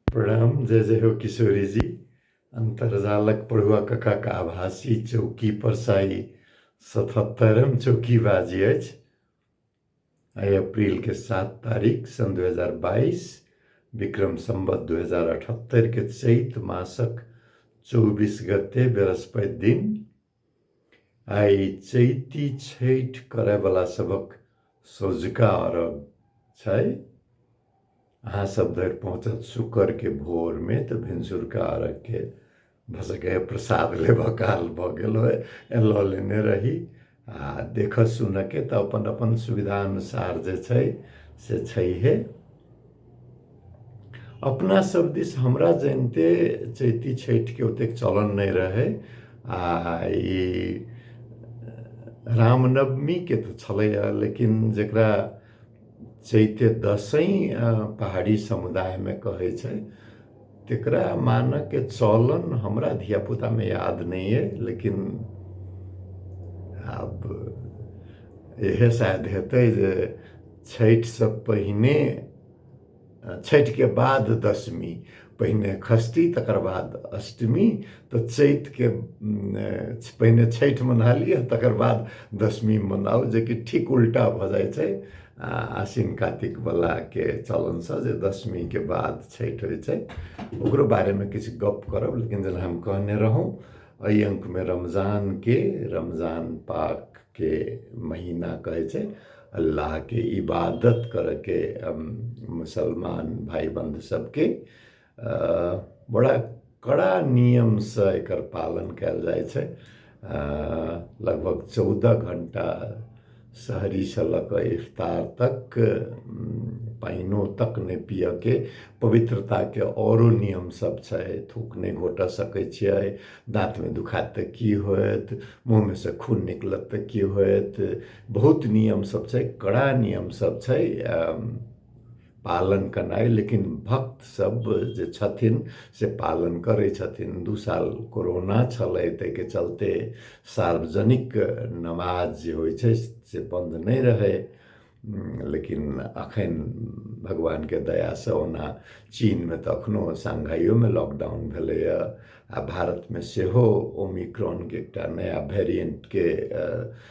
प्रणाम जय जय हो किशोरी जी अन्तर्जालक पढ़ुआ ककाक आभासी चौकी पर साई सतहत्तरम चौकी बाजी अछि आइ अप्रैल के सात तारीख सन दू हजार बाईस विक्रम सम्बत दू हजार अठहत्तर के चैत मासक चौबीस गते बृहस्पति दिन आइ चैती छठि करयवला सभक सौझका अरब छै अहाँ सब धरि पहुँचत शुक्रके भोरमे तऽ भिनसुरका अरबके भऽ सकैए प्रसाद लेबऽ काल भऽ गेल होय लऽ लेने रही आ देखऽ सुनऽके तऽ अपन अपन सुविधा अनुसार जे छै से छैहे अपना सब दिस हमरा जनिते चैती छठिके ओतेक चलन नहि रहै आ ई रामनवमीके तऽ छलैए लेकिन जकरा चैते दसैँ पहाड़ी समुदायमे कहै छै तेकरा मानके चलन हमरा धियापुतामे याद नहि अइ लेकिन आब इहे शायद हेतै जे छठिसँ पहिने छठिके बाद दशमी पहिने खस्ती तकर बाद अष्टमी तऽ चैतके पहिने छठि मना लिअ तकर बाद दशमी मनाउ जेकि ठीक उल्टा भऽ जाइ छै आसिन कातिकवलाके चलनसँ जे दशमीके बाद छठि होइ छै ओकरो बारेमे किछु गप्प करब लेकिन जेना हम कहने रहौँ एहि अङ्कमे रमजानके रमजान पाकके महीना कहै छै अल्लाहके इबादत करयके मुसलमान भाय बन्धु सभके बड़ा कड़ा नियमसँ एकर पालन कयल जाइ छै लगभग चौदह घण्टा सहरीसँ लऽ कऽ इफ्तार तक पानिओ तक नहि पिअऽके पवित्रताके आओरो नियम सब छै थूक नहि घोटऽ सकै छियै दाँतमे दुखायत तऽ की होयत मुँहमे सँ खून निकलत तऽ की होयत बहुत नियम सब छै कड़ा नियम सब छै पालन केनाइ लेकिन भक्त सब जे छथिन से पालन करै छथिन दू साल कोरोना छलै ताहिके चलते सार्वजनिक नमाज जे होइ छै से बन्द नहि रहै लेकिन अखन भगवानके दयासँ ओना चीनमे तऽ अखनो शंघाइयोमे लॉकडाउन भेलैए आ भारतमे सेहो ओमिक्रॉनके एकटा नया भेरिएंटके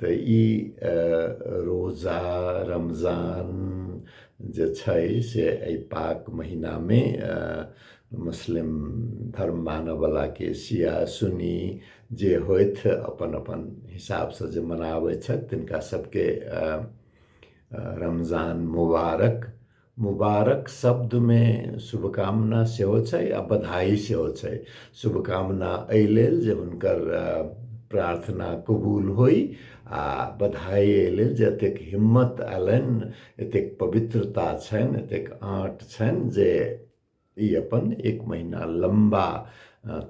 तऽ ई रोजा रमजान जे छै से एहि पाक महिनामे मुस्लिम धर्म मानयवलाके शिया सुन्नी जे होथि अपन अपन हिसाबसँ जे मनाबै छथि तिनका सभके रमजान मुबारक मुबारक शब्दमे शुभकामना सेहो छै आ बधाई सेहो छै शुभकामना एहि लेल जे हुनकर प्रार्थना कबूल होइ आ बधाई एहि लेल जे एतेक हिम्मत अयलनि एतेक पवित्रता छनि एतेक आँट छनि जे ई अपन एक महिना लम्बा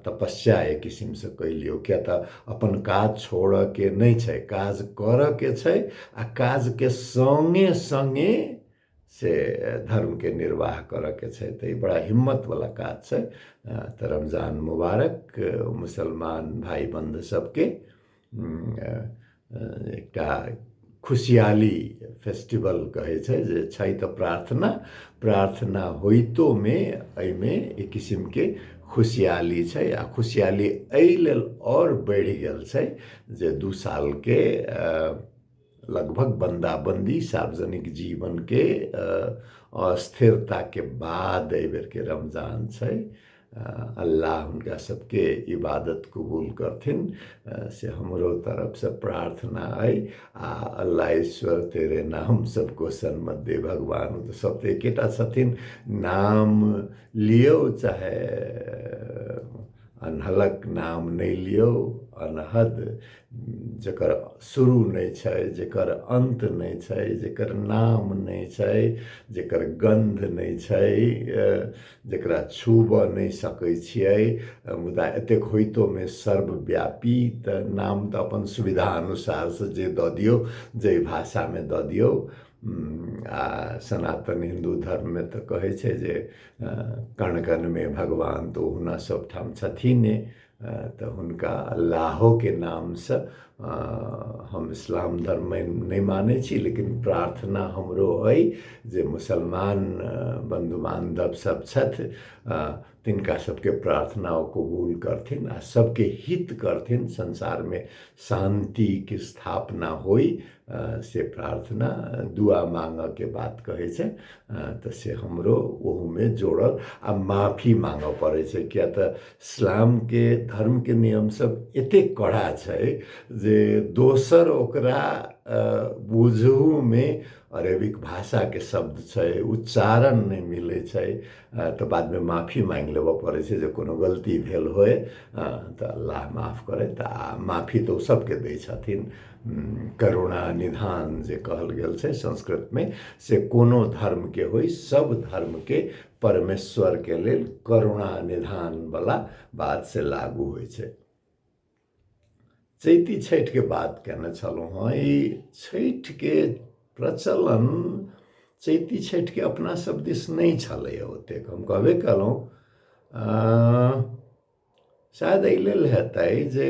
तपस्या एक किसिमसँ कहि लियौ किएक तऽ अपन काज छोड़यके नहि छै काज करयके छै आ काजके सङ्गे सङ्गे से धर्मके निर्वाह करयके छै तऽ ई बड़ा हिम्मतवला काज छै तऽ रमजान मुबारक मुसलमान भाय बन्धु सभके एकटा खुशहाली फेस्टिवल कहै छै जे छै तऽ प्रार्थना प्रार्थना होइतोमे एहिमे एक किसिमके खुशहाली छै आ खुशहाली एहि लेल आओर बढ़ि गेल छै जे दू सालके लगभग बन्दाबन्दी सार्वजनिक जीवनके अस्थिरताके बाद एहि बेरके रमजान छै अल्लाह हुनका सबके इबादत कबूल करथिन से हमरो तरफसँ प्रार्थना अइ आ अल्लाह ईश्वर तेरे नाम सबको सन्मत दे भगवान ओ तऽ सब तऽ एकेटा छथिन नाम लियौ चाहे अनहलक नाम नहि लियौ अनहद जकर शुरू नहि छै जकर अन्त नहि छै जकर नाम नहि छै जकर गन्ध नहि छै जकरा छूबऽ नहि सकै छियै मुदा एतेक होइतोमे सर्वव्यापी तऽ नाम तऽ अपन सुविधा अनुसारसँ जे दऽ दियौ जाहि भाषामे दऽ दियौ आ सनातन हिन्दू धर्ममे तऽ कहै छै जे कण कणमे भगवान तऽ ओहुना सभठाम छथिने तऽ हुनका अल्लाहोके नामसँ हम इस्लाम धर्म नहि मानय छी लेकिन प्रार्थना हमरो अइ जे मुसलमान बन्धु बान्धव सब छथि तिनका सबके प्रार्थना ओ कबूल करथिन आओर सबके हित करथिन संसारमे शान्तिके स्थापना होइ से प्रार्थना दुआ माँगऽके बात कहै छै तऽ से हमरो ओहूमे जोड़ल आओर माफी माँगऽ पड़य छै किआ तऽ इस्लामके धर्मके नियम सब एते कड़ा छै जे दोसर ओकरा बुझहुमे अरेबिक भाषाके शब्द छै उच्चारण नहि मिलय छै तऽ बादमे माफी माँगि लेबऽ पड़य छै जे कोनो गलती भेल होइ तऽ अल्लाह माफ करथि आओर माफी तऽ ओ सबके दै छथिन करुणा निधान जे कहल गेल छै संस्कृतमे से कोनो धर्मके होइ सब धर्मके परमेश्वरके लेल करुणा निधानवला बात से लागू होइ छै चैती छठिके बात केने छलहुँ हँ ई छठिके प्रचलन चैती छठिके अपना सब दिस नहि छलैए ओतेक हम कहबे कयलहुँ शायद एहि लेल हेतै जे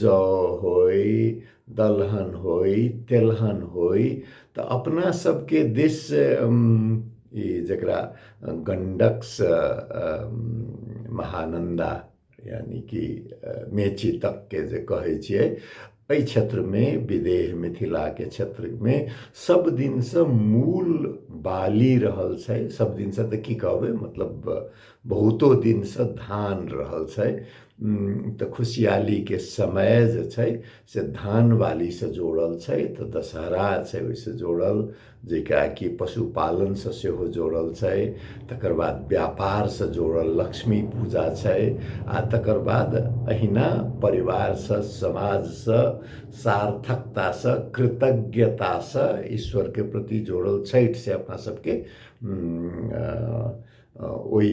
जौ होइ दलहन होइ तेलहन होइ तऽ अपना सबके दिस ई जकरा गण्डकसँ महानन्दा यानि कि मेची तकके जे कहै छियै एहि क्षेत्रमे विदेह मिथिलाके क्षेत्रमे सब दिनसँ मूल बाली रहल छै सब दिनसँ तऽ की कहबै मतलब बहुतो दिनसँ धान रहल छै तऽ खुशहालीके समय जे छै से धान बालीसँ जोड़ल छै तऽ दशहरा छै ओहिसँ जोड़ल जेकरा कि पशुपालनसँ सेहो जोड़ल छै तकर बाद व्यापारसँ जोड़ल लक्ष्मी पूजा छै आ तकर बाद अहिना परिवारसँ समाजसँ सार्थकतासँ कृतज्ञतासँ ईश्वरके प्रति जोड़ल छठि से अपना सभके ओहि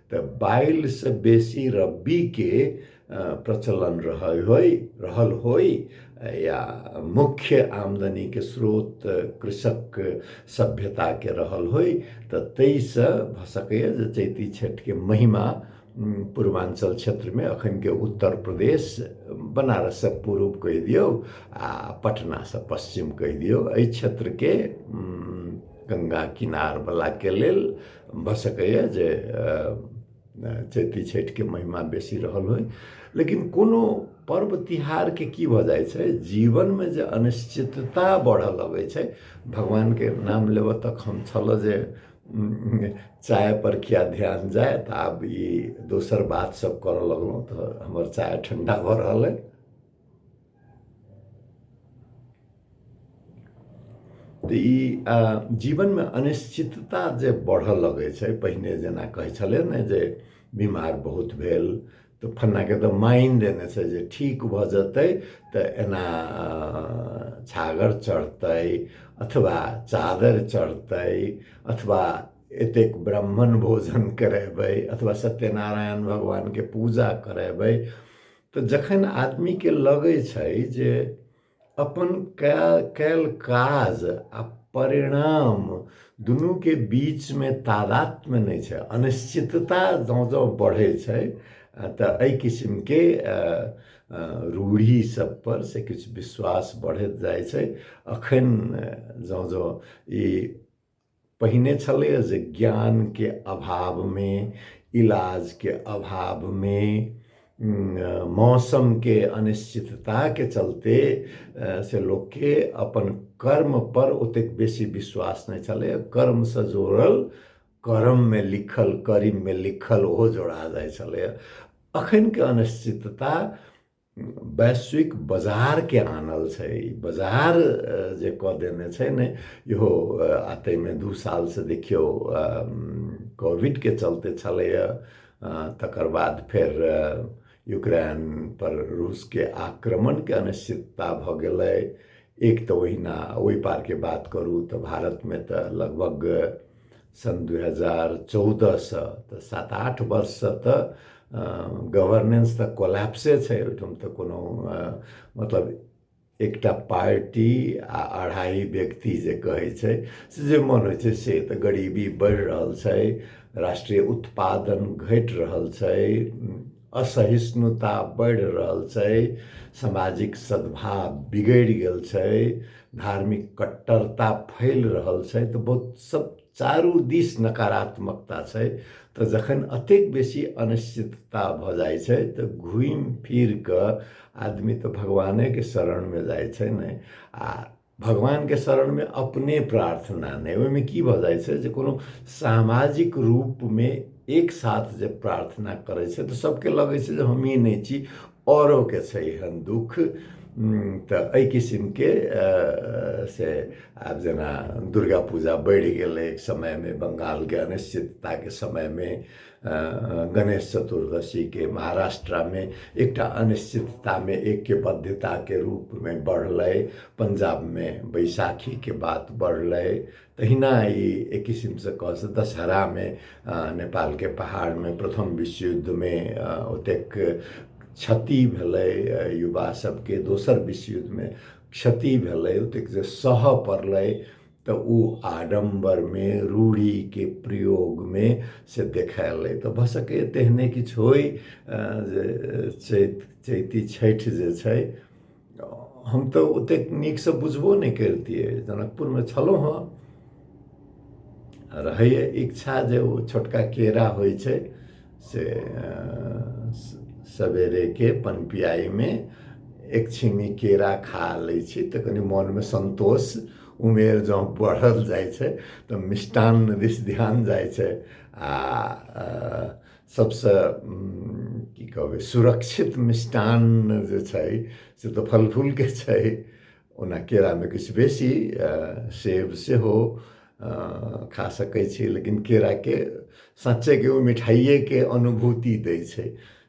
तऽ बाइलसँ बेसी रब्बीके प्रचलन रहै होइ रहल होइ या मुख्य आमदनीके स्रोत कृषक सभ्यताके रहल होइ तऽ ताहिसँ भऽ सकैए जे चैती छठिके महिमा पूर्वाञ्चल क्षेत्रमे एखनके उत्तर प्रदेश बनारससँ पूर्व कहि दियौ आ पटनासँ पश्चिम कहि दियौ एहि क्षेत्रके गङ्गा किनारवलाके लेल भऽ सकैए जे चैती छठिके महिमा बेसी रहल होइ लेकिन कोनो पर्व तिहारके की भऽ जाइ छै जीवनमे जे अनिश्चितता बढ़ऽ लगै छै भगवानके नाम लेबऽ तक हम छलऽ जे चायपर किए ध्यान जाय तऽ आब ई दोसर बात सभ करऽ लगलहुँ तऽ हमर चाय ठण्डा भऽ रहल अइ तऽ ई जीवनमे अनिश्चितता जे बढ़ऽ लगै छै पहिने जेना कहै छलै ने जे बीमार बहुत भेल तऽ फन्नाके तऽ माइन देने छै जे ठीक भऽ जेतै तऽ एना छागर चढ़तै अथवा चादर चढ़तै अथवा एतेक ब्राह्मण भोजन करेबै अथवा सत्यनारायण भगवानके पूजा करेबै तऽ जखन आदमीके लगै छै जे अपन कयल कयल काज आ परिणाम दुनूके बीचमे तादात्म्य नहि छै अनिश्चितता जँ जँ बढ़ै छै तऽ एहि किसिमके रूढ़ी सभपर से किछु विश्वास बढ़ैत जाइ छै एखन जँ जँ ई पहिने छलैए जे ज्ञानके अभावमे इलाजके अभावमे मौसमके अनिश्चितताके चलते से लोकके अपन कर्मपर ओतेक बेसी विश्वास नहि छलै कर्मसँ जोड़ल कर्ममे लिखल करीममे लिखल ओहो जोड़ा जाइ छलैए एखनके अनिश्चितता वैश्विक बजारके आनल छै ई बजार जे कऽ देने छै ने इहो आ ताहिमे दू सालसँ देखियौ कोविडके चलते छलैए तकर बाद फेर यूक्रेनपर रूसके आक्रमणके अनिश्चितता भऽ गेलै एक तऽ ओहिना ओहि पारके बात करू तऽ भारतमे तऽ लगभग सन् दुई हजार चौधसँ तऽ सात आठ वर्षसँ तऽ गभर्नेन्स तऽ कोलाप्से छै ओहिठाम तऽ कोनो मतलब एकटा पार्टी आ अढ़ाइ व्यक्ति जे कहै छै से जे मन होइ छै से तऽ गरीबी बढ़ि रहल छै राष्ट्रीय उत्पादन घटि रहल छै असहिष्णुता बढ़ि रहल छै सामाजिक सद्भाव बिगड़ि गेल छै धार्मिक कट्टरता फैल रहल छै तऽ बहुत सब चारू दिस नकारात्मकता छै तऽ जखन अतेक बेसी अनिश्चितता भऽ जाइ छै तऽ घुमि फिर कऽ आदमी तऽ भगवानेके शरणमे जाइ छै ने आ भगवानके शरणमे अपने प्रार्थना नहि ओहिमे की भऽ जाइ छै जे कोनो सामाजिक रूपमे एक साथ जे प्रार्थना करै छै तऽ सभके लगै छै जे हमही नहि छी औरोके छै एहन दुःख तऽ एहि किसिमके से आब जेना दुर्गा पूजा बढ़ि गेलै एक समयमे बंगालके अनिश्चितताके समयमे गणेश चतुर्दशीके महाराष्ट्रमे एकटा अनिश्चिततामे ऐक्यबद्धताके रूपमे बढ़लै पंजाबमे बैसाखीके बात बढ़लै तहिना ई एक किसिमसँ कहऽ से दशहरामे नेपालके पहाड़मे प्रथम विश्व युद्धमे ओतेक क्षति भेलै युवा सभके दोसर विश्व युद्धमे क्षति भेलै ओतेक जे सहऽ पड़लै तऽ ओ आडम्बरमे रूढ़िके प्रयोगमे से देखायल अइ तऽ भऽ सकैए तेहने किछु होइ जे चैत चैती छठि जे छै हम तऽ ओतेक नीकसँ बुझबो नहि करितियै जनकपुरमे छलहुँ हँ रहैए इच्छा जे ओ छोटका केरा होइ छै से सवेरेके पनपियाइमे एक छिमी केरा खा लै छी तऽ कनि मोनमे सन्तोष उमेर जँ बढ़ल जाइ छै तऽ मिष्टान्न दिस ध्यान जाइ छै आ सभसँ की कहबै सुरक्षित मिष्टान्न जे छै से तऽ फल फूलके छै ओना केरामे किछु बेसी सेब सेहो खा सकै छी लेकिन केराके साँच्चेके ओ मिठाइएके अनुभूति दै छै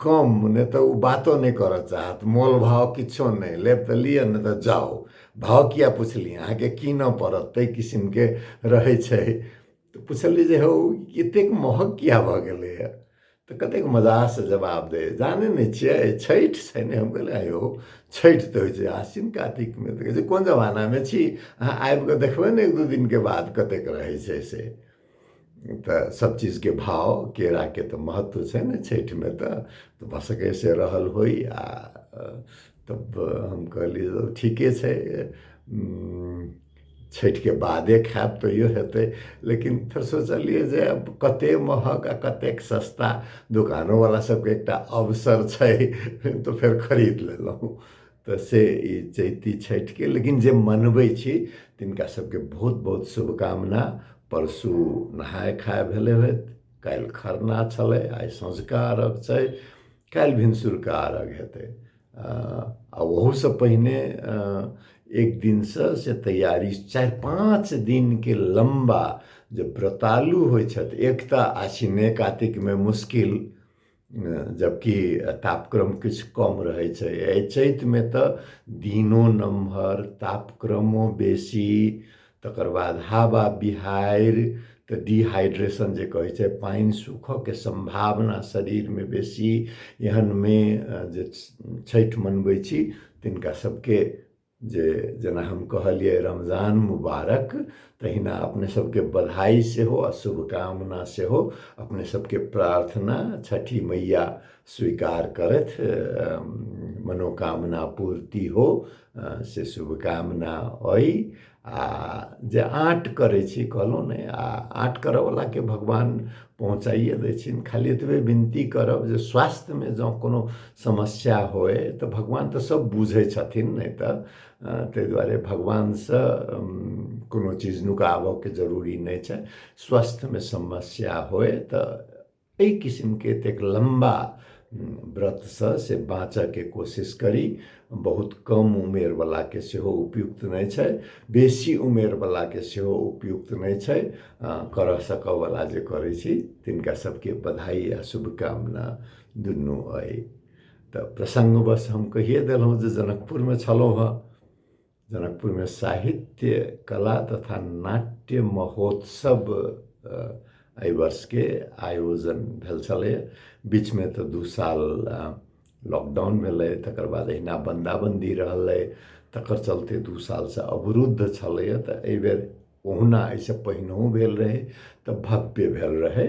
कम नहि तऽ ओ बातो नहि करऽ चाहत मोल भाव किछो नहि लेब तऽ लिअ नहि तऽ जाउ भाव किए पुछलियै अहाँके कीनऽ पड़त ताहि किसिमके रहै छै तऽ पुछलियै जे हौ एतेक महग किए भऽ गेलैए तऽ कतेक मजासँ जवाब दै जानै नहि छियै छठि छै ने हम कहलियै यौ छठि तऽ होइ छै आसिन कातिकमे तऽ कहै छै कोन जमानामे छी अहाँ आबि कऽ देखबै ने एक दू दिनके बाद कतेक रहै छै से तऽ सब चीजके भाव केराके तऽ महत्व छै ने छैठमे तऽ तऽ भऽ सकैए से रहल होइ आओर तब हम कहलियै जे ठीके छै छैठके बादे खायब तैयो हेतय लेकिन फेर सोचलियै जे आब कते महग आओर कतेक सस्ता दोकानोवला सबके एकटा अवसर छै तऽ फेर खरीद लेलहुँ तऽ से ई चैती छठिके लेकिन जे मनबै छी तिनका सबके बहुत बहुत शुभकामना परसू नहाय खाय भेलै होइत काल्हि खरना छलै आइ सँझुका अर्घ छै काल्हि भिनसुरका अर्घ हेतै आ ओहूसँ पहिने एक दिनसँ से तैयारी चारि पाँच दिनके लम्बा जे व्रतालु होइ छथि एक तऽ आसिने कातिकमे मुश्किल जबकि तापक्रम किछु कम रहै छै एहि चैतमे तऽ दिनो नमहर तापक्रमो बेसी तकर बाद हवा बिहाड़ि तऽ डिहाइड्रेशन जे कहै छै पानि सूखऽके सम्भावना शरीरमे बेसी एहनमे जे छठि मनबै छी तिनका सबके जे जेना हम कहलियै रमजान मुबारक तहिना अपने सबके बधाई सेहो आ शुभकामना सेहो अपने सबके प्रार्थना छठी मैया स्वीकार करथ मनोकामना पूर्ति हो से शुभकामना अइ आ जे आँट करै छी कहलहुँ ने आ आँट करऽवलाके भगवान पहुँचाइए दै छनि खाली एतबे विनती करब जे स्वास्थ्यमे जँ कोनो समस्या होइ तऽ भगवान तऽ सब बुझय छथिन नहि तऽ तै दुआरे भगवानसँ कोनो चीज नुकाबऽके जरूरी नहि छै स्वास्थ्यमे समस्या होइ तऽ अइ किसिमके एतेक लम्बा व्रतसँ से बाँचऽके कोशिश करी बहुत कम उमेरवलाके सेहो उपयुक्त नहि छै बेसी उमेरवलाके सेहो उपयुक्त नहि छै करऽ सकऽवला जे करय छी तिनका सबके बधाइ आओर शुभकामना दुनू अइ तऽ प्रसङ्गवश हम कहिये देलहुँ जे जनकपुरमे छलहुँ हँ जनकपुरमे साहित्य कला तथा नाट्य महोत्सव एहि वर्षके आयोजन भेल छलै बीचमे तऽ दू साल लॉकडाउन भेलै तकर बाद अहिना बन्दाबन्दी रहलै तकर चलते दू सालसँ अवरुद्ध छलैए तऽ एहि बेर ओहुना एहिसँ पहिनहु भेल रहै तऽ भव्य भेल रहै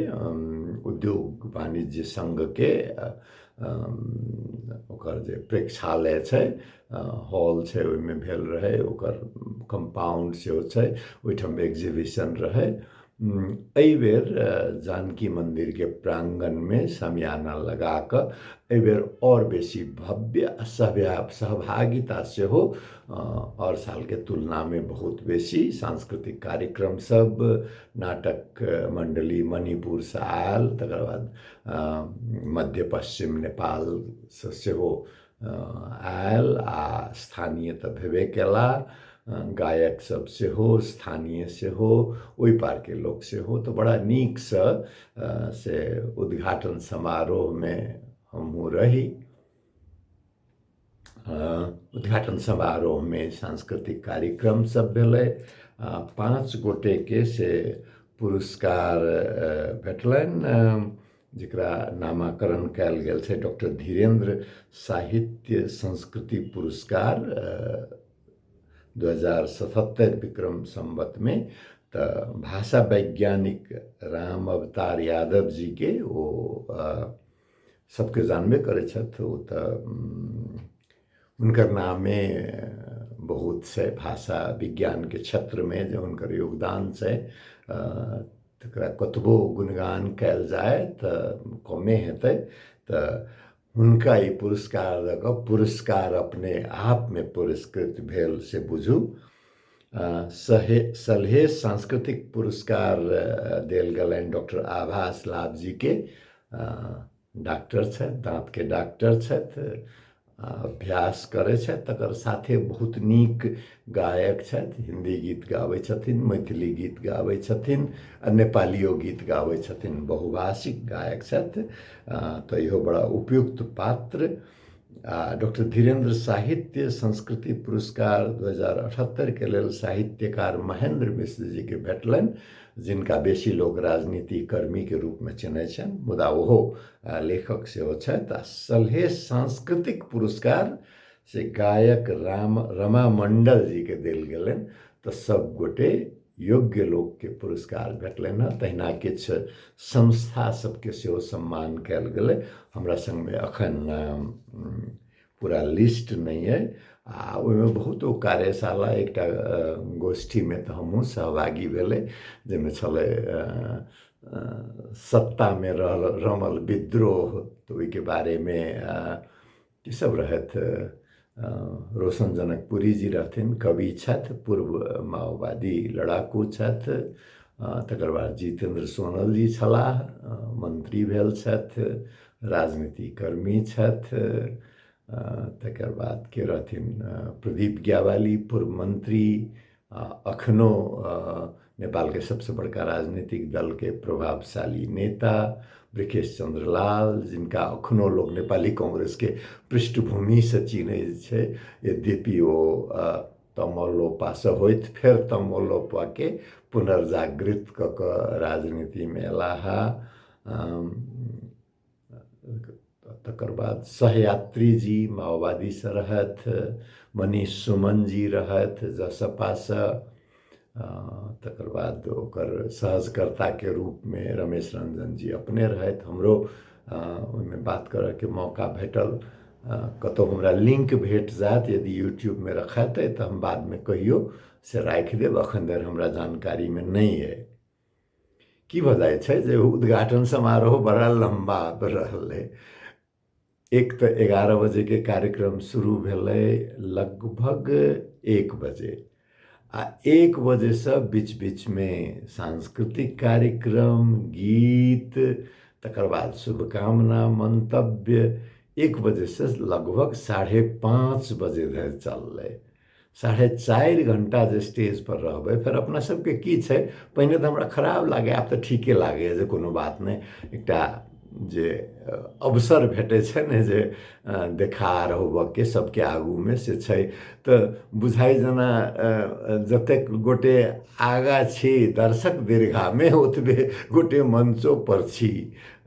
उद्योग वाणिज्य संघके ओकर जे प्रेक्षालय छै हॉल छै ओहिमे भेल रहै ओकर कम्पाउण्ड सेहो छै ओहिठाम एक्जीबिशन रहै एहिबेर जानकी मन्दिरके प्राङ्गणमे समियाना लगाकऽ एहिबेर आओर बेसी भव्य आ सभ्य सहभागिता सेहो आओर सालके तुलनामे बहुत बेसी सांस्कृतिक कार्यक्रम सब नाटक मण्डली मणिपुरसँ आयल तकर बाद मध्य पश्चिम नेपालसँ सेहो आयल आओर स्थानीय तऽ भेबे कयला गायक सब सेहो स्थानीय सेहो ओइ पारके लोक सेहो तऽ बड़ा नीकसँ से उद्घाटन समारोहमे हमहुँ रही उद्घाटन समारोहमे सांस्कृतिक कार्यक्रम सब भेलै आओर पाँच गोटेके से पुरस्कार भेटलनि जकरा नामाकरण कयल गेल छै डॉक्टर धीरेन्द्र साहित्य संस्कृति पुरस्कार दू हजार सतहत्तरि विक्रम सम्बतमे तऽ भाषा वैज्ञानिक राम अवतार यादव जीके ओ सबके जानबे करै छथि ओ तऽ हुनकर नामे बहुत छै भाषा विज्ञानके क्षेत्रमे जे हुनकर योगदान छै तकरा कतबो गुणगान कयल जाय तऽ कमे हेतै तऽ हुनका ई पुरस्कार लऽ कऽ पुरस्कार अपने आपमे पुरस्कृत भेल से बुझू सहे सलहेश सांस्कृतिक पुरस्कार देल गेलनि डॉक्टर आभा इस्लाब जी के डॉक्टर छथि दाँत के डॉक्टर छथि अभ्यास करै छथि तकर साथे बहुत नीक गायक छथि हिंदी गीत गाबै छथिन मैथिली गीत गाबै छथिन आ नेपालियो गीत गाबै छथिन बहुभाषिक गायक छथि तऽ इहो बड़ा उपयुक्त पात्र आ डॉक्टर धीरेन्द्र साहित्य संस्कृति पुरस्कार 2078 के लेल साहित्यकार महेंद्र मिश्र जी के भेटलनि जिनका बेसी लोग राजनीति कर्मी के रूप में चिन्है छनि मुदा ओहो आ, लेखक सेहो छथि आ सलहे सांस्कृतिक पुरस्कार से गायक राम रमा मंडल जी के देल गेलनि तऽ सब गोटे योग्य लोकके पुरस्कार भेटलनि हँ तहिना किछु संस्था सबके सेहो सम्मान कयल गेलै हमरा सङ्गमे एखन पूरा लिस्ट नहि अइ आ ओहिमे बहुत ओ कार्यशाला एकटा गोष्ठीमे तऽ हमहुँ सहभागी भेलै जाहिमे छलै सत्तामे रहल रमल विद्रोह तऽ ओहिके बारेमे ई सब रहथि रोशन जनकपुरी जी रहथिन कवि छथि पूर्व माओवादी लड़ाकू छथि तकर बाद जितेन्द्र सोनल जी छलाह मन्त्री भेल छथि राजनीति कर्मी छथि तकर बाद के रहथिन प्रदीप ज्ञावाली पूर्व मन्त्री अखनो नेपालके सबसँ बड़का राजनीतिक दलके प्रभावशाली नेता ब्रिकेश चन्द्र लाल जिनका अखनो लोक नेपाली कांग्रेसके पृष्ठभूमिसँ चिन्है छै यद्यपि ओ तमलोपासँ होइत फेर तमलोपाके पुनर्जागृत कऽ कऽ राजनीतिमे अयला हे तकर बाद सहयात्री जी माओवादीसँ रहथि मनीष सुमन जी रहथि जसपासँ तकर बाद ओकर सहजकर्ताके रूपमे रमेश रंजन जी अपने रहथि हमरो ओहिमे बात करयके मौका भेटल कतहु हमरा लिंक भेट जायत यदि यूट्यूबमे रखायत तऽ हम बादमे कहियो से राखि देब एखन धरि हमरा जानकारीमे नहि अइ की भऽ जाइ छै जे उद्घाटन समारोह बड़ा लम्बा रहलै एक तऽ एगारह बजेके कार्यक्रम शुरू भेलै लगभग एक बजे आ एक बजेसँ बीच बीचमे सांस्कृतिक कार्यक्रम गीत तकर बाद शुभकामना मन्तव्य एक बजेसँ लगभग साढ़े पाँच बजे धरि चललै साढ़े चारि घण्टा जे स्टेजपर रहबै फेर अपना सबके की छै पहिने तऽ हमरा खराब लागै आब तऽ ठीके लागैए जे कोनो बात नहि एकटा जे अवसर भेटै छै ने जे देखार होबऽके सबके आगूमे से छै तऽ बुझाइ जेना जतेक गोटे आगा छी दर्शक दीर्घामे ओतबे गोटे मञ्चोपर छी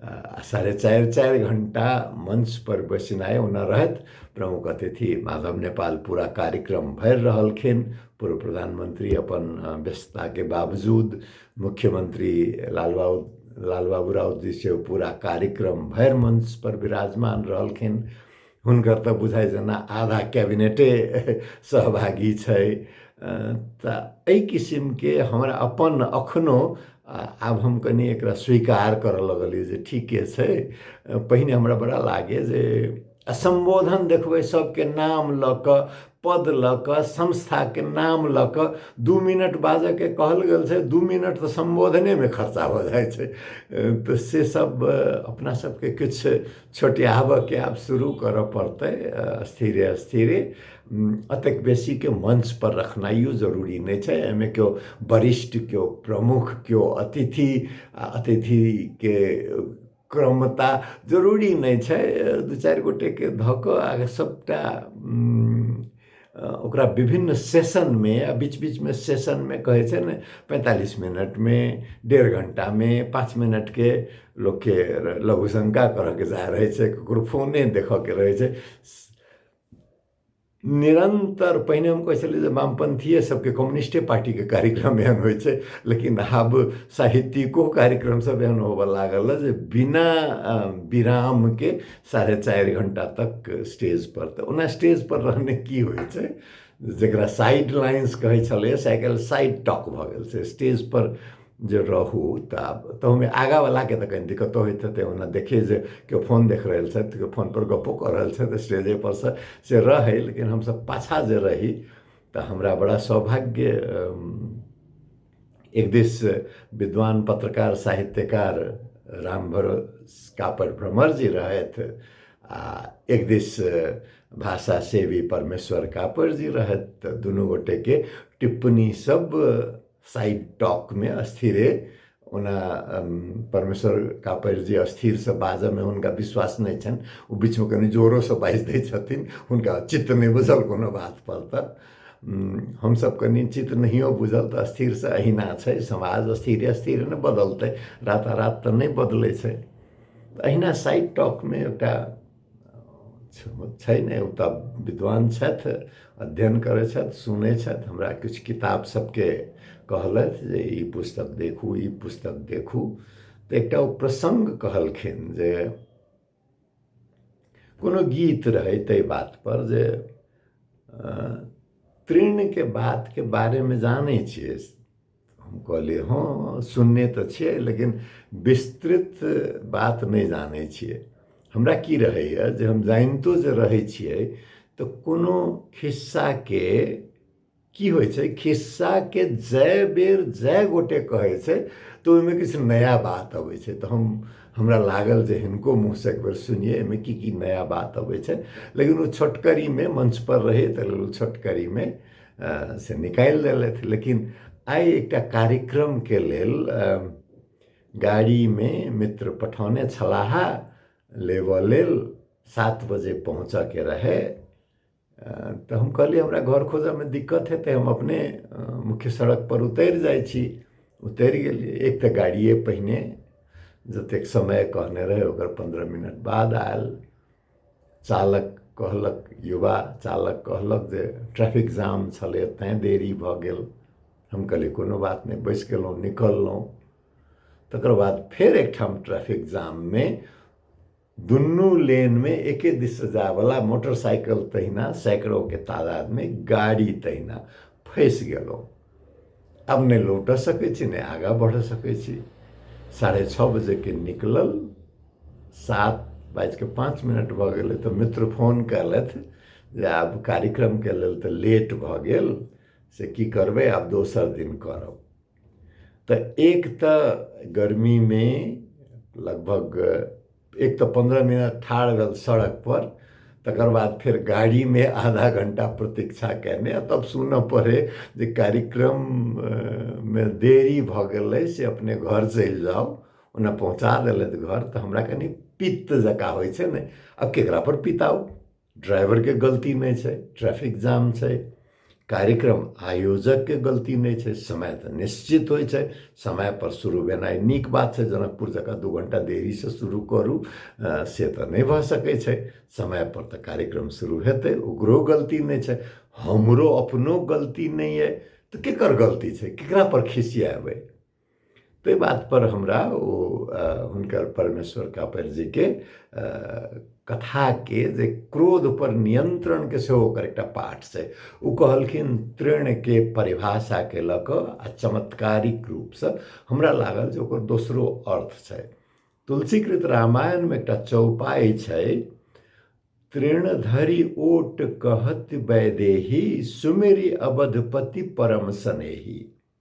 आओर साढ़े चारि चारि घण्टा मञ्चपर बैसनाइ ओना रहैत प्रमुख अतिथि माधव नेपाल पूरा कार्यक्रम भरि रहलखिन पूर्व प्रधानमंत्री अपन व्यस्तता के बावजूद मुख्यमंत्री लालबाबू लालबाबू राउत जी से पूरा कार्यक्रम भरि मंच पर विराजमान रहलखिन हुनकर तऽ बुझाइ जेना आधा कैबिनेटे सहभागी छै तऽ एहि किसिमके हमरा अपन अखनो आब हम कनि एकरा स्वीकार करऽ लगलियै जे ठीके छै पहिने हमरा बड़ा लागय जे आ सम्बोधन देखबै सबके नाम लऽ कऽ पद लऽ कऽ संस्थाके नाम लऽ कऽ दू मिनट बाजऽके कहल गेल छै दू मिनट तऽ सम्बोधनेमे खर्चा भऽ जाइ छै तऽ से सब अपना सबके किछु छोटियाबऽके आब शुरू करऽ पड़तै स्थिरे स्थिरे अतेक बेसीके मंच पर रखनाइयो जरूरी नहि छै एहिमे केओ वरिष्ठ केओ प्रमुख केओ अतिथि आ अतिथिके क्रमता जरूरी नहि छै दू चारि गोटेके धऽ कऽ अहाँके सभटा ओकरा विभिन्न सेशनमे आ बीच बीचमे सेशनमे कहै छै ने पैंतालिस मिनटमे डेढ़ घण्टामे पाँच मिनटके लोकके लघु शङ्का करयके रहै छै ककरो फोने देखयके रहै छै निरन्तर पहिने हम कहै छलियै जे वामपन्थिए सभके कम्युनिस्टे पार्टीके कार्यक्रम एहन होइ छै लेकिन आब साहित्यिको कार्यक्रम सभ एहन होबऽ लागल हँ जे बिना विरामके साढ़े चारि घण्टा तक स्टेज पर तऽ ओना स्टेज पर रहने की होइ छै जकरा साइड लाइन्स कहै छलैया से आइ काल्हि साइड टॉक भऽ गेल छै स्टेज पर जे रहू तऽ आब तहुमे आगावलाके तऽ कनि दिक्कतो होइत हेतै ओना देखियै जे केओ फोन देख रहल छथि केओ फोनपर गप्पो कऽ रहल छथि स्टेजेपर सँ से रहय लेकिन हमसभ पाछाँ जे रही तऽ हमरा बड़ा सौभाग्य एक दिस विद्वान पत्रकार साहित्यकार रामभरोस कापर भ्रमर जी रहथि आ एक दिस भाषा सेवी परमेश्वर कापर जी रहथि तऽ दुनू गोटेके टिप्पणीसभ साइड टक में अस्थिरे ओना परमेश्वर कापर जी अस्थिरसँ बाजऽमे हुनका विश्वास नहि छनि ओ बीचमे कनि जोरोसँ बाजि दै छथिन हुनका चित्त नहि बुझल कोनो बातपर तऽ हमसभ कनि चित्त नहियो बुझल तऽ अस्थिरसँ अहिना छै समाज अस्थिरे अस्थिरे ने बदलतै रातारात तऽ नहि बदलै छै अहिना साइड टॉकमे एकटा छै नहि ओ तऽ विद्वान छथि अध्ययन करै छथि सुनै छथि हमरा किछु किताब सबके कहलथि जे ई पुस्तक देखू ई पुस्तक देखू तऽ एकटा ओ प्रसङ्ग कहलखिन जे कोनो गीत रहै ताहि बातपर जे तृणके बातके बारेमे जानै छियै हम कहली हँ सुनने तऽ छियै लेकिन विस्तृत बात नहि जानै छियै हमरा की रहैए जे हम जानितो जे रहै छियै तऽ कोनो खिस्साके की होइ छै खिस्साके जय बेर जय गोटे कहै छै तऽ ओहिमे किछु नया बात अबै छै तऽ हम हमरा लागल जे हिनको मुँहसँ एक बेर सुनिए एहिमे की की नया बात अबै छै लेकिन ओ छोटकरीमे मंचपर रहै तऽ ओ छोटकरीमे से निकालि देलथि लेकिन आइ एकटा कार्यक्रमके लेल गाड़ीमे मित्र पठौने छलाह लेबऽ लेल सात बजे पहुँचऽके रहै तऽ हम कहलियै हमरा घर खोजऽमे दिक्कत हेतै हम अपने मुख्य सड़कपर उतरि जाइ छी उतरि गेलियै एक तऽ गाड़िये पहिने जतेक समय कहने रहै ओकर पन्द्रह मिनट बाद आयल चालक कहलक युवा चालक कहलक जे ट्रैफिक जाम छलै तैँ देरी भऽ गेल हम कहलियै कोनो बात नहि बैसि गेलहुँ निकललहुँ तकर बाद फेर एकठाम ट्रैफिक जाममे दुनू लेनमे एके दिससँ जायवला मोटरसाइकिल तहिना सैकड़ोके तादादमे गाड़ी तहिना फँसि गेलहुँ आब नहि लौटय सकै छी नहि आगाँ बढ़य सकै छी साढ़े छओ बजेके निकलल सात बाजि कऽ पाँच मिनट भऽ गेलै तऽ मित्र फोन कयलथि जे आब कार्यक्रमके लेल तऽ लेट भऽ गेल से की करबै आब दोसर दिन करब तऽ एक तऽ गर्मीमे लगभग एक तऽ पन्द्रह मिनट ठाढ़ भेल सड़कपर तकर बाद फेर गाड़ीमे आधा घंटा प्रतीक्षा कयने आ तब सुनऽ पड़ै जे कार्यक्रममे देरी भऽ गेलै से अपने घर चलि जाउ ओना पहुँचा देलथि घर तऽ हमरा कनि पित्त जकाँ होइ छै ने आब ककरापर पिताउ ड्राइवरके गलती नहि छै ट्रैफिक जाम छै कार्यक्रम आयोजकके गलती नहि छै समय तऽ निश्चित होइ छै समयपर शुरू भेनाइ नीक बात छै जनकपुर जकाँ दू घण्टा देरीसँ शुरू करू से तऽ नहि भऽ सकै छै समयपर तऽ कार्यक्रम शुरू हेतै ओकरो गलती नहि छै हमरो अपनो गलती नहि अइ तऽ ककर गलती छै ककरापर खिसिएबै ताहि बातपर हमरा ओ हुनकर परमेश्वर कापरजीके कथाके जे क्रोधपर नियन्त्रणके सेहो ओकर एकटा पाठ छै ओ कहलखिन तृणके परिभाषाके लऽ कऽ आ चमत्कारिक रूपसँ हमरा लागल जे ओकर दोसरो अर्थ छै तुलसीकृत रामायणमे एकटा चौपाइ छै तृण धरि ओट कहत वैदेही सुमेरी अवधपति परम सनेही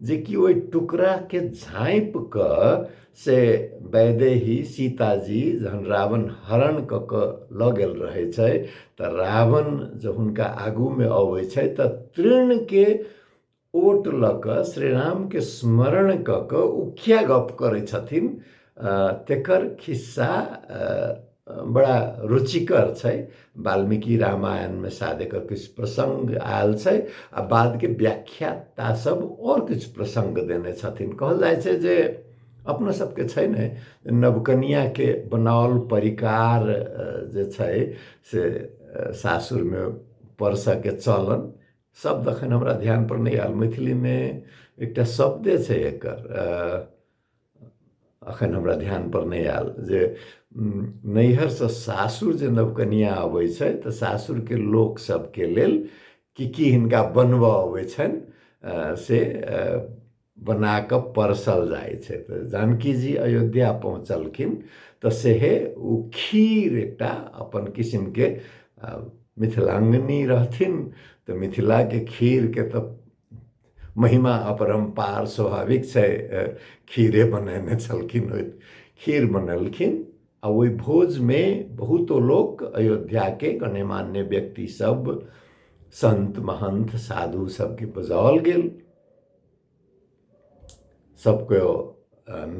जेकि ओहि टुकड़ाके झाँपि कऽ से वैदेही सीताजी जहन रावण हरण कऽ कऽ लऽ गेल रहै छै तऽ रावण जब हुनका आगूमे अबै छै तऽ तृणके ओट लऽ कऽ श्री रामके स्मरण कऽ कऽ ओ किया गप करै छथिन तेकर खिस्सा बड़ा रुचिकर छै वाल्मीकि रामायणमे शायद एकर किछु प्रसङ्ग आयल छै आ बादके व्याख्याता सब आओर किछु प्रसङ्ग देने छथिन कहल जाइ छै जे अपना सबके छै ने नवकनियाके बनाओल परिकार जे छै से सासुरमे परसऽके चलन शब्द एखन हमरा ध्यानपर नहि आयल मैथिलीमे एकटा शब्दे छै एकर अखन हमरा ध्यान पर नहि आयल जे नैहरसँ सासुर जे नवकनिया अबै छै तऽ सासुरके लोक सबके लेल की की हिनका बनबऽ अबै छनि से बना कऽ परसल जाइ छै तऽ जानकी जी अयोध्या पहुँचलखिन तऽ सेहे ओ खीर एकटा अपन किसिमके मिथिलाङ्गनी रहथिन तऽ मिथिलाके खीरके तऽ महिमा अपरम्पार स्वाभाविक छै खीरे बनेने छलखिन ओहि खीर बनेलखिन आ ओहि भोजमे बहुतो लोक अयोध्याके गण्यमान्य व्यक्तिसभ सन्त महन्थ साधु सभके बजाओल गेल सभके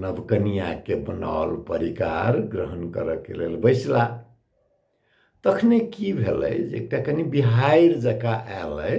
नवकनियाके बनाओल परिकार ग्रहण करयके लेल बैसला तखने की भेलै जे एकटा कनि बिहाड़ि जकाँ आयल अइ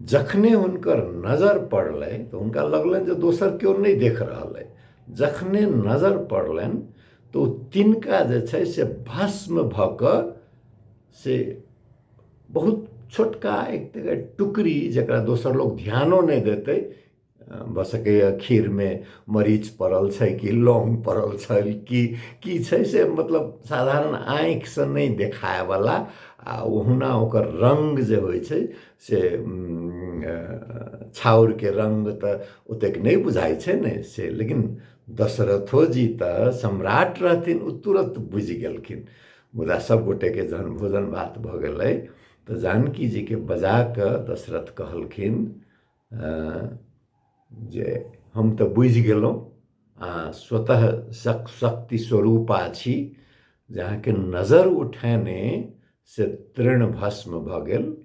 जखने हुनकर नजर पड़लनि तऽ हुनका लगलनि जे दोसर केओ नहि देख रहल अइ जखने नजर पड़लनि तऽ ओ तिनका जे छै से भस्म भऽ कऽ से बहुत छोटका एक तरहके टुकड़ी जकरा दोसर लोक ध्यानो नहि देतै भऽ सकैए खीरमे मरीच पड़ल छै कि लौङ्ग पड़ल छै कि की छै से मतलब साधारण आँखिसँ नहि देखायवला आ ओहुना ओकर रङ्ग जे होइ छै से छाउरके रङ्ग तऽ ओतेक नहि बुझाइ छै ने से लेकिन दशरथो जी तऽ सम्राट रहथिन ओ तुरन्त बुझि गेलखिन मुदा सभ गोटेके जखन भोजन भात भऽ गेलै तऽ जानकी जीकेँ बजा कऽ दशरथ कहलखिन जे हम तऽ बुझि गेलहुँ आ स्वतः शक शक्ति स्वरूपा छी जे अहाँके नजर उठेने से तृण भस्म भऽ गेल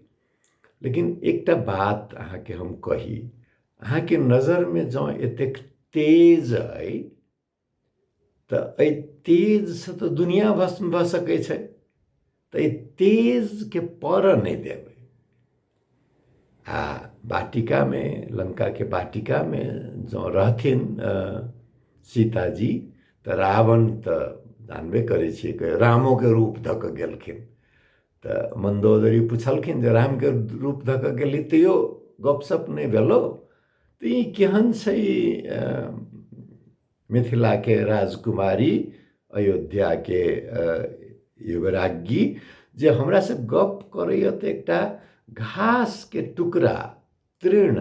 लेकिन एकटा बात अहाँके हम कही अहाँके नजरमे जँ एतेक तेज अइ तऽ एहि तेजसँ तऽ दुनिया भस्म भऽ सकै छै तऽ एहि तेजके पड़ऽ नहि देबै आ वाटिकामे लङ्काके वाटिकामे जँ रहथिन सीताजी तऽ रावण तऽ जानबे करै छियै कि रामोके रूप धऽ कऽ गेलखिन तऽ मन्दोदरी पुछलखिन जे रामके रूप धऽ कऽ गेली तैयो गपशप नहि भेलौ तो ये केहन छै मिथिला के राजकुमारी अयोध्या के युवराज्ञी जे हमरा से गप करैए तऽ एकटा घास के टुकड़ा तृण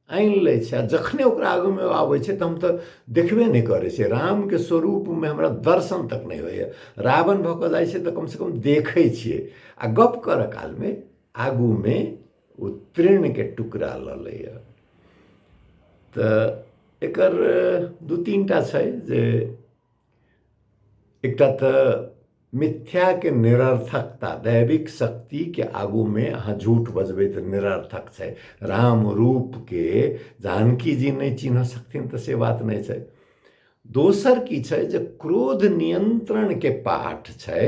आनि लै छै आ जखने ओकरा आगूमे आबै छै तऽ हम तऽ देखबे नहि करै छियै रामके स्वरूपमे हमरा दर्शन तक नहि होइए रावण भऽ कऽ जाइ छै तऽ कमसँ कम देखै छियै आ गप्प करय कालमे आगूमे ओ ट्रेनके टुकड़ा लऽ लैए तऽ एकर दू तीन टा छै जे एकटा तऽ मिथ्याके निरर्थकता दैविक शक्तिके आगूमे अहाँ झूठ बजबै तऽ निरर्थक छै राम रूपके जानकी जी नहि चिन्ह सकथिन तऽ से बात नहि छै दोसर की छै जे क्रोध नियन्त्रणके पाठ छै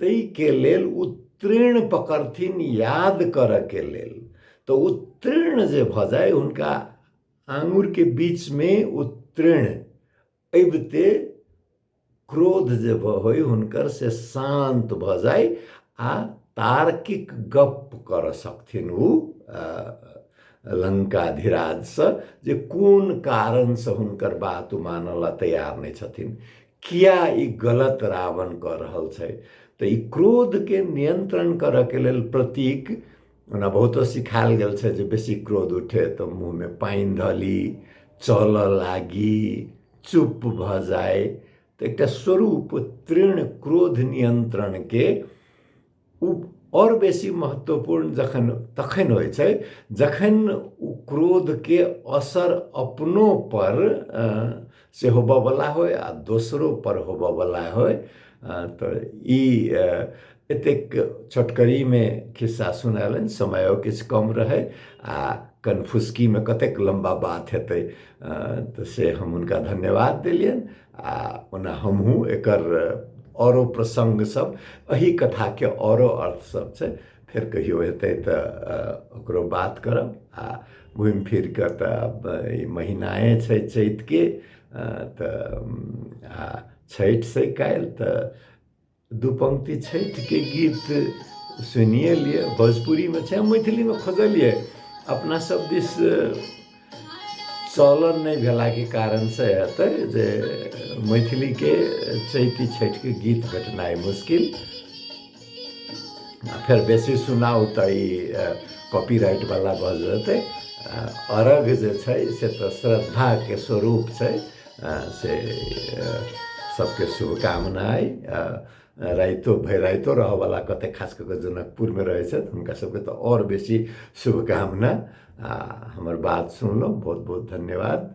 ताहिके लेल उत्तीर्ण पकड़थिन याद करऽके लेल तऽ उत्तीर्ण जे भऽ जाय हुनका आङुरके बीचमे उत्तीर्ण अबिते क्रोध जे होइ हुनकर से शान्त भऽ जाय आ तार्किक गप करऽ सकथिन ओ लङ्काधिराजसँ जे कोन कारणसँ हुनकर बात ओ मानऽ लए तैयार नहि छथिन किया ई गलत रावण कऽ रहल छै तऽ ई क्रोधके नियन्त्रण करऽके लेल प्रतीक ओना बहुतो सिखायल गेल छै जे बेसी क्रोध उठे तऽ मुँहमे पानि धऽ ली चलऽ लागी चुप भऽ जाय तऽ एकटा स्वरूप तृण क्रोध नियन्त्रणके ओ आओर बेसी महत्वपूर्ण जखन तखन होइ छै जखन ओ क्रोधके असर अपनोपर से होबऽवला होइ आओर दोसरोपर होबऽवला होइ तऽ ई एतेक छोटकरीमे खिस्सा सुनेलनि समयो किछु कम रहै आओर कनफुसकीमे कतेक लम्बा बात हेतै तऽ से हम हुनका धन्यवाद देलियनि आ ओना हमहूँ एकर औरो प्रसङ्ग सब एहि कथाके औरो अर्थ सब छै फेर कहियो हेतै तऽ ओकरो बात करब आ घुमि फिर कऽ तऽ ई महीनाए छै चैतके तऽ आ छठि से काल्हि तऽ दू पंक्ति छठिके गीत सुनिए लिए भोजपुरीमे छै मैथिलीमे खोजलिए अपना सब दिस चलन नहि भेलाके कारणसँ हेतै जे मैथिलीके चैती छठिके गीत भेटनाइ मुश्किल आ फेर बेसी सुनाउ तऽ ई कॉपीराइटवला भऽ जेतै अरघ जे छै से तऽ श्रद्धाके स्वरूप छै से सबके शुभकामना अइ राइतो भरि राइतो रहऽवला कतेक खास कऽ कऽ जनकपुरमे रहै छथि हुनका सबके तऽ आओर बेसी शुभकामना आ हमर बात सुनलहुँ बहुत बहुत धन्यवाद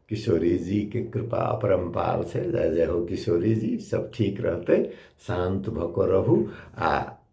किशोरी जीके कृपा अपरम्पार छै जय जय हो किशोरी जी सब ठीक रहतै शान्त भऽ कऽ रहू आ